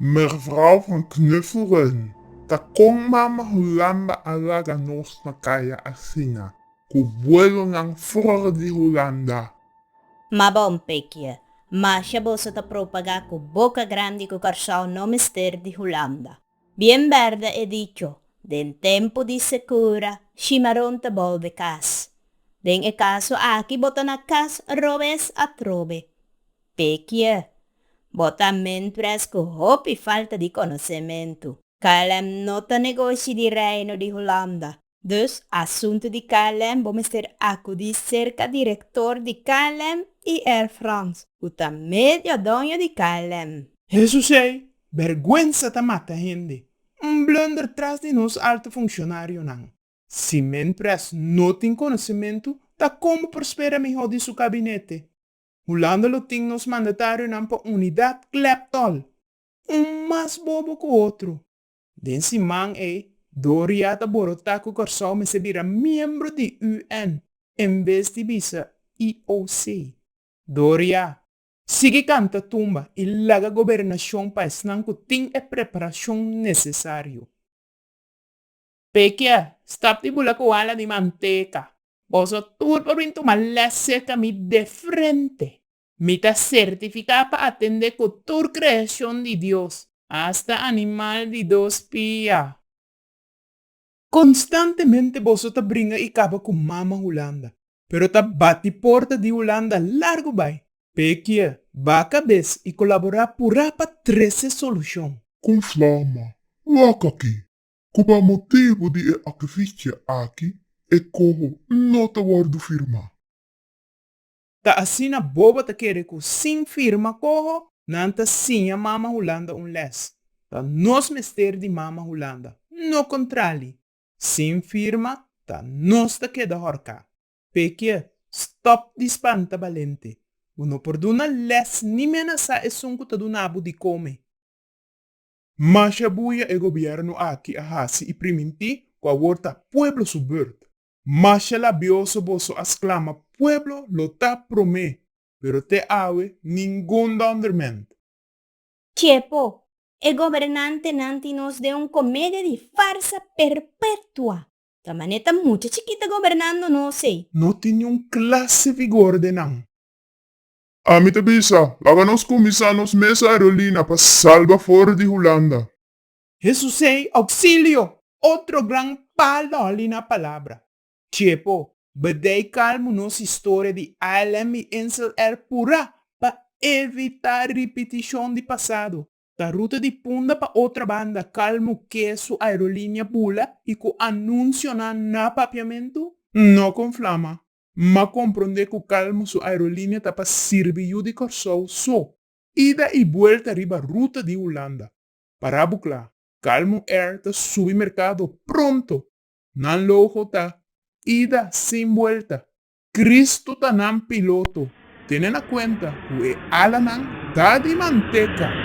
Mervrouw van Knuffelrun, ta kon mama Hulamba a laga nos na kaya asina, ku vuelonan for di Hulanda? Ma bon pekie, masha boso ta propagá ku boka grandi ku Kòrsou no mester di Hulanda. Bien berde e dicho, den tempu di sekura, shimaron ta bolbe kas. Den e kaso aki bo ta na kas robes atrobe. Pekië, bo ta mentres ku hopi falta di konosementu. Kalem no ta negoshi di Reino di Hulanda. Dus, asuntu di klm bo mester akudí serka direktor di klm i Air France, ku ta medio doño di klm. Jesus ei, bèrgwensa ta mata hende. Un blunder tras di nos alto funshonarionan. Si Min Pres no tin konosementu, ta kon bo por spera mihó di su kabinete? Hulanda lo tin nos mandatarionan pa unidat klèp tòl, un mas bobo ku otro. Den siman ei, Doria ta borotá ku Kòrsou mester bira miembro di UN en bes di bisa IOC. Doria, sigui kanta tumba i laga gobernashon pa esnan ku tin e preparashon nesesario. Pekia, stap di bula ku hala di manteka. Boso tur por bin tuma lèsè ta mi de frente. Mi ta sertifiká pa atendé ku tur kreashon di Dios, asta animal di dos pia. Konstantemente boso ta bringa i kaba ku mama Hulanda, pero ta bati porta di Hulanda largu bai, pekia, ba kabes i kolaborá purá pa trese solushon. Kon flama, waka ki, ku pa motibu di e akvicha aki e koho no ta wòrdu firmá. Ta asina bobo ta kere cu sin firma coho nan ta siña Mama Hulanda un les. Ta nos mester di Mama Hulanda, no contrali. Sin firma ta nos ta keda horca. Pekie, stop di spanta balente. Bo no por duna les ni menasa esun cu ta duna bo di come. Masha buya e gobierno aki a haci y priminti cu awor ta pueblo su beurt. Masha labioso boso a sclama pueblo lo ta prome pero te awe ningun donderment. Chepo, e gobernantenan tin nos den un comedia di farsa perpetua. Ta mane ta mucha chikita gobernando nos ey. No tin niun clase vigor den nan. Ami ta bisa, laga nos cuminsa nos mes aerolina pa salba for di Hulanda. Hesus ei, Oxilio! Otro gran paloli na palabra. Chepo, bedei kalmu nos historia di ILM i Insel R pura pa evita ripitishon di pasado. Ta ruta di punda pa otra banda kalmu ke su aerolinia bula i ku anunsionan na papiamentu? No kon flama, ma kompronde ku kalmu su aerolinia ta pa sirbi yu di Kòrsou so, ida i buelta riba ruta di Hulanda. Para bu kla, Calmo Air ta subi merkado pronto! Nan logo ta, Ida sin buelta! Cristo ta nan piloto! Tene na cuenta cu e alanan ta di manteca!